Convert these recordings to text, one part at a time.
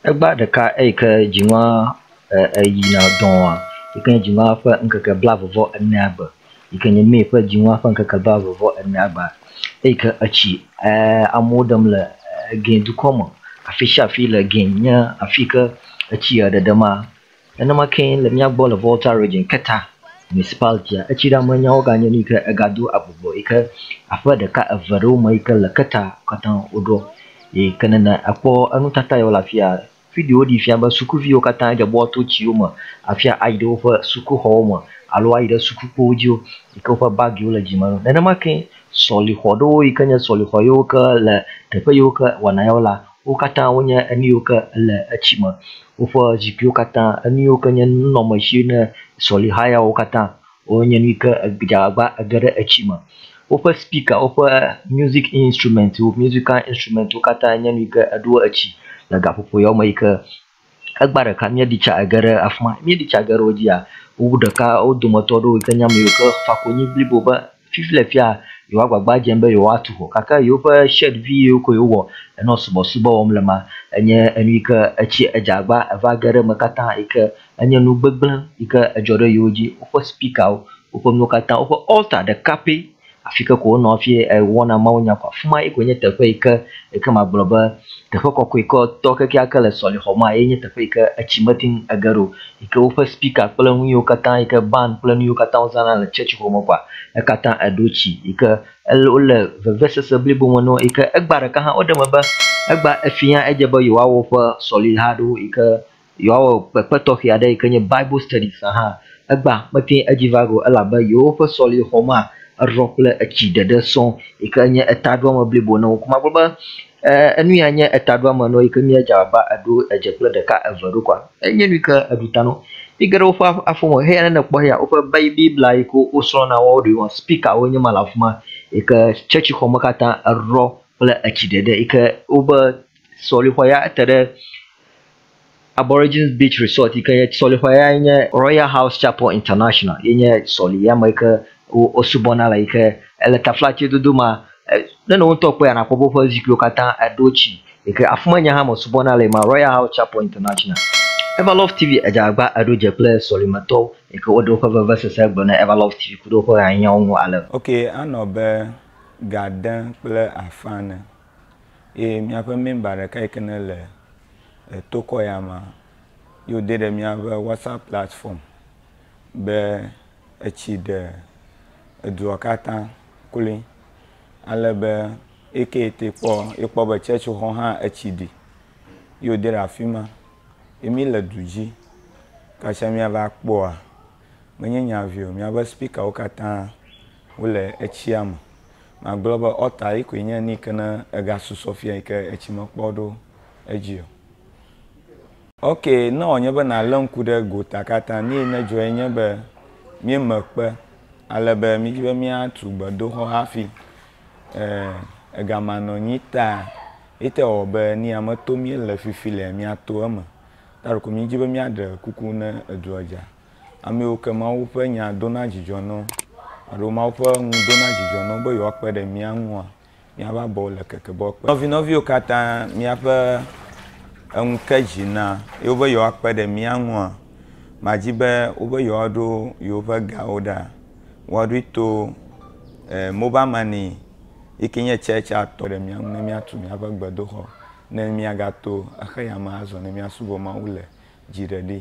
Egba ɖeka eyi ke dzinua e eyina dɔa yi ke nye dzinua ƒe ŋkeke blaeve vɔ enea gbe yi ke nye May ƒe dzinua ƒe ŋkeke blaeve vɔ enea gbe eyi ke etsi e amewo ɖem le e Guinea dukɔ me. Afi sia afi le Guinea nye afi yi ke etsi eɖeɖema. Nenema kee le mía gbɔ le Volta Region, Keta Municipality-a, etsi ɖa me nyawo ganye nu yi ke ega do agbugbɔ yi ke aƒe ɖeka eve ɖe wo me yi ke le Keta katã woɖɔ yi ke nene akpɔ enutata yi wole afia. Videowo ɖee fia be sukuviwo katã dze be woato tsiwo me afia ayi ɖe woƒe sukuxɔwo me alo ayi ɖe sukukpowo dzi wo yi ke woƒe bagiwo le dzime na wo. Nenema kee sɔlixɔ ɖewo yi ke nye sɔlixɔ yiwo ke le teƒe yiwo ke wɔna ya wo la Wo katã wonye enu yiwo ke le etsi me. Woƒe zikpuiwo katã, enu yiwo ke nye nunɔmesi ne sɔliha yawo katã, wonye nu yi ke edze agbagba ege ɖe etsi me. Woƒe spika, woƒe music instruments, musical instruments wo katã nye nu yi ke eɖo etsi le gaƒoƒo yawo me yi ke Egba ɖeka míeɖi tsa ge ɖe afi ma. Míeɖi tsa ge ɖe wo dzia, wowu ɖeka wo dometɔ aɖewo yi ke nye ame yiwo ke fa konyi blibo be fifi le fia yewoa agbagba dzem be yewoatu xɔ gake yewoƒe shirt vi yiwo ke wowɔ nɔ subɔsubɔ wɔm le ema enye enu yi ke etsi edze agba eva ge ɖe eme katã yi ke enye nu gbegblẽ yi ke edzɔ ɖe yewo dzi. Woƒe spikawo, woƒe nuwo katã, woƒe altar ɖeka pɛ Afi ke ko wonɔ hafi wɔna mawunya ko. Afi ma ye koe nye teƒe yi ke yi ke magblɔ be teƒe kɔkɔekɔtɔ kekeake le sɔlixɔ ma ye nye teƒe yi ke etsi mete ŋu ege ɖo yi ke woƒe spika kple nu yiwo katã yi ke band kple nu yiwo katã wozãna le tsɔtsi xɔ me kɔa ekatã eɖo tsi yi ke ele wole vevesese blibo me na wo yi ke egbea ɖeka hã woɖe eme be egbea efia edze be yewoawɔ woƒe sɔliha aɖewo yi ke Yewoawɔ kpekpe tɔxɛ aɖe yi ke nye Bible Studies hã. Egbea mete edzi va go elabe yewoƒe sɔlexɔmea erɔ kple etsi ɖeɖe sɔ yi ke nye etaɖoame blibo na wo. Ko magblɔ be enu ya nye etaɖoame na wo yi ke nye edze abe eɖo edze kple ɖeka eve ɖo koa, enye nu yi ke eɖu ta na wo. Mi ge ɖe woƒe afɔ me heya ne nekpɔ heya woƒe Biblia yi ke wosrɔ̃ na woawo ɖewoa, speakerwo nye ma le afi ma yi ke tsetsixɔ me katã erɔ kple etsi ɖeɖe yi ke wobe sɔlexɔ ya ete ɖe Aborigines Beach Resort yi ke nye sɔlixɔa yae nye Royal House Chapel International ye nye sɔli ya me yi ke wosubɔna le yi ke ele taflatse dodo ma ne nɔwo ŋutɔ kpɔe anakpɔ be woƒe zikpuiwo katã eɖo tsi yi ke afima nye hã mesubɔna le ma Royal House Chapel International. Eva Love TV Edzagba eɖo dze kple sɔlimetɔwo yi ke woɖe woƒe vevesese gblɔ ne Eva Love TV ku ɖe woƒe hanyawo ŋu ale. Ok anɔ be ga dẽ kple afã ne. ye míaƒe mɛmba ɖeka yi ke nele tokɔ ya mea, ye wòdɛ ɖe míaƒe Whatsapp platfɔm be etsi ɖe edua katã kloe ale be eyi ke te kpɔ, ekpɔ be tsɛtsixɔ hã etsi ɖi ye wòdɛ ɖe afi ma. Ye míle du dzi. Kasia míava kpɔa, menye nya ʋi o, míaƒe spikawo katã. Wole etsia me. Magblɔ be ɔta yi koe nye nike ne ega susɔ fia yi ke etsi me kpɔ ɖo edzi o. Ok, ne wɔ nye be na le ŋku ɖe gota kata, nuyi ne dzɔ ye nye be mí me kpe ale be mí dzi be mía tu gbedoxɔ hafi e ega ma nɔ nyi ta yi te wɔ be ni ame to mí le fifi le mía to eme. Ta ɖeko mí dzi be mía ɖe kuku ne edua dza. Amewo ke Mawu ƒe Nya dona dzidzɔ na wo alo Mawu ƒe nu dona dzidzɔ na wo be yewoakpe ɖe mía ŋua, míaƒe abɔwo le keke be woakpe. Nɔvinɔviwo katã míaƒe enu ke dzi na yewo be yewoakpe ɖe mía ŋua? Madi be wo be yewoaɖo yewoƒe gawo ɖa, woaɖoe to mobal mani yi ke nye tsɛtsi a tɔ ɖe mía ŋu ne míatu míaƒe gbedoxɔ ne míagato xeyame azɔ ne míasubɔ Mawu le dziɖeɖi me.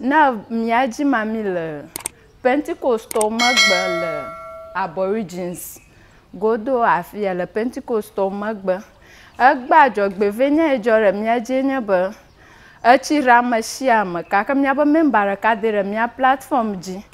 Ne míadzi mamee le Pentekostwo megbe le Aborigines godo afia, le Pentekostwo megbe, egbea dzɔgbevɔ̃enya yi dzɔ ɖe mía dzie nye be, etsi ɖe ame sia ame gake míaƒe mɛmba ɖeka dee ɖe mía platfɔm dzi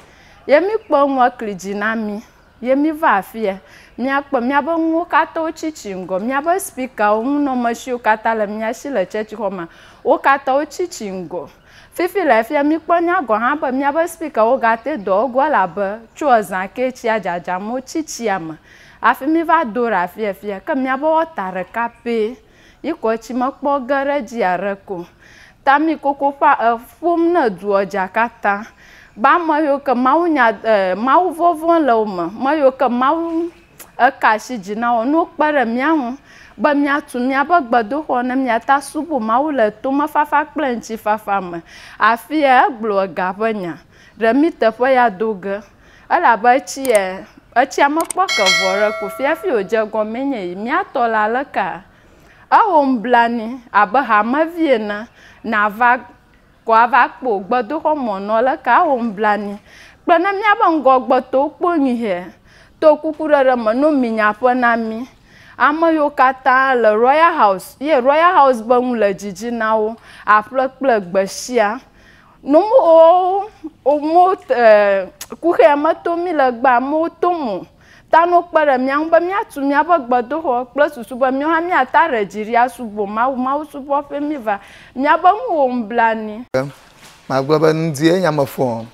ye míkpɔ enua kli dzi na mí ye míva afia míakpɔ míaƒe nuwo katã wotsi tsi ŋgɔ. Míaƒe spikawo, nunɔamesiwo katã le mía si le tsɛtsixɔmea, wo katã wotsi tsi ŋgɔ. Fifi le fia mikpɔ nya gɔ hã be miabe speaker wo ga te dɔ egoa elabe tso ezã ke tsia dzadzam wo tsi tsia me hafi mi va do ɖa fia fia ke miabe wɔta ɖeka pɛ yi kɔ tsi me kpɔ ge ɖe dzi aɖeke o ta mi koko ƒa e ƒom ne edua dza kata ba me yio ke mawu nya e mawu vɔvɔ le wo me me yio ke mawu Eka asi dzi nawɔ nuwo kpe ɖe mía ŋu be míatu míaƒe gbedoxɔ ne míate asubu Mawu le tomefafa kple ŋutifafa me. Afia egblɔ ega ƒe nya. Ɖe mí teƒe ya do ge. Elabe etsia, etsia mekpɔ ke vɔ ɖe ko fia hafi wòdze egɔmee nye yi. Mía tɔ le alekea? Ewɔ nublanui, abe hamevi ene, nàva Kɔ ava kpo gbedoxɔ mɔ nɔ leke awo ŋblanui kple ne míabe ŋgɔgbetɔwo kpɔ nyui hɛ to kukuɖeɖe me no mi nyaƒe na mí. Ame yiwo katã le Royal House ye Royal House be ŋu le dzidzi na wo aƒle kple gbe shia. No mo o mo e kuxea meto mi le gbe amewo to mo. Ta no kpe ɖe mía ŋu be míatu míaƒe gbedoxɔ kple susu be míawo hã míate ŋu aɖe dzi ɖi asubɔ Mawu, mawusubɔƒee míeva. Míabe nu wɔ nublanui. Magblɔ be nu dzie nya me fɔɔ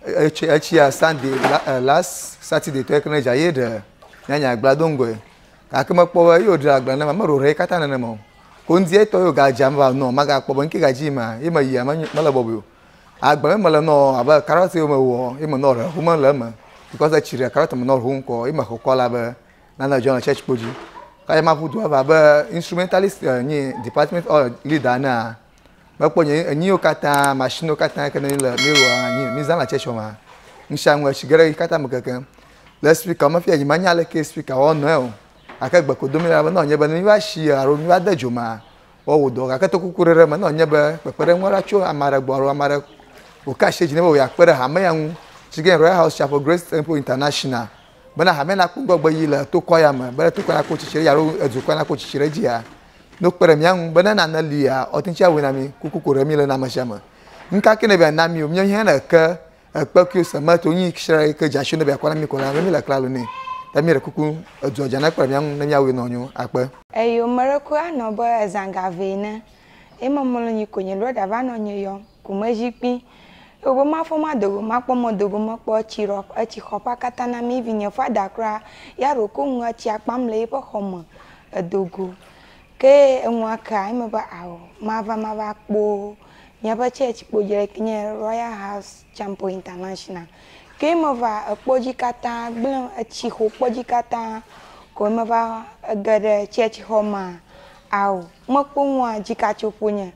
etsɔ etsia Sunday eh last Saturday tɔe ke ne dza ye ɖe nya nya gbla do ŋgɔe gake mekpɔ be ye wodra gbla ne ma meɖo ʋe katã nenema o ko ŋdi etɔ ye woga dza meva nɔ magakpɔ be nuke ga dzi yim ma ye meyia mele bɔbɔe o Agble me mele nɔ abe carrot yi me wɔ yi me nɔ rehu me le eme because etsi ɖe carrot me nɔ rehu ŋkɔ yi me xɔ kɔ la be nana dzɔ le church kpo dzi. Ka ma ƒu du ava be instrumentalist eh, nyi department or leader na mekpɔ nye enyi yo katã machine yo katã ke ne le mi wɔ nyi mi zan la church ma. Ŋsha ŋu etsi gere yi katã me keke. Le speaker me fia nyi ma nya le ke speaker wɔ nɔ o. Ake gbe ko domi la be nɔ nye be ne mi va shi aro mi va de dzo ma. woawɔ dɔ gake to kuku ɖe ɖe me ne wònye be kpekpeɖeŋu aɖe tso ame aɖe gbɔ alo ame aɖe wòka asi dzi ne be wòakpe ɖe hame ya ŋu si ke Royal House Chapel Grace Temple International bena hame nakpɔ ŋgɔgbe yi le tokɔ ya me bena tokɔ nakpɔ tsitsi ɖe dzi alo edukɔ nakpɔ tsitsi ɖe dzia ne wokpe ɖe mía ŋu bena nane lia ɔte ŋuti awɔe na mi kuku ko ɖe mi le na ame sia ame nu ka ke ne be na mi o míawo hã ne ke Ekpe kio se ma to nyi kshra yi ke jasho ne bia kwa na mi ko la mi la klalo ne. Ta mi re kuku edzo jana kpra mi anu ne mi awe no nyo akpe. Eyo mereku anɔ be ezanga ve ne. Yi me molo nyi ko nyi brother va nɔ nyi yɔ ku me zi kpi. Eyo be ma fɔ ma dogo ma kpɔ mo dogo me kpɔ etsi rɔ etsi xɔ ƒa kata na mi vi nye father kura ya ro ko ŋu etsi akpam le yi ƒe xɔ me edogo. Ke eŋua kea yi me be ao ma va ma va kpo. Míaƒe tsɛtsi kpo dzre ke nye Royal House Campo International. Ke meva ekpɔ dzi katã gblẽ etsi xo kpɔ dzi katã ko meva ege ɖe tsɛtsi xɔ ma ao. Mekpɔ nua dzika tso ƒo nye.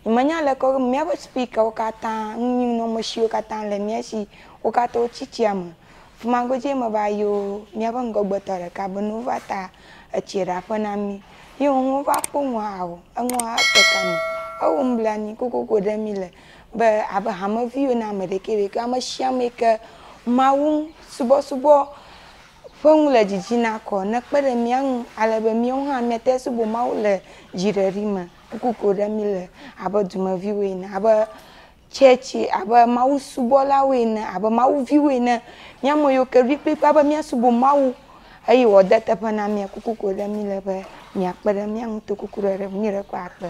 Nye me nya leke wo míaƒe speaker wo katã nu nyim nɔ me shi wo katã le mía shi wo katã wo tsi tsia me. Fima godzie meva yo míaƒe ŋgɔgbetɔ ɖeka be no va ta. etsiɛ ɖe aƒe na mí. Ye ŋu wova kpɔ ŋu haho, eŋu ha te ta me. Ewo nublanui kokoko ɖe mí le be abe hameviwo ene ame ɖekɛ ɖekɛ. Ame shi ame yi ke Mawu subɔsubɔ ƒe ŋu le didi na kɔ nekpe ɖe mía ŋu ale be míawo hã míate ŋu asubɔ Mawu le dziɖeɖi me kokoko ɖe mí le abe dumeviwo ene. Abe Tsɛtsi abe mawusubɔlawo ene, abe Mawu viwo ene. Mía me yiwo ke ɖoe kplikpaa be míasubɔ Mawu eye wòade teƒe na mía. Kuku koe ɖe míele be miakpe ɖe mía ŋu to kuku ɖe ɖe ŋunye ɖe ƒe akpe.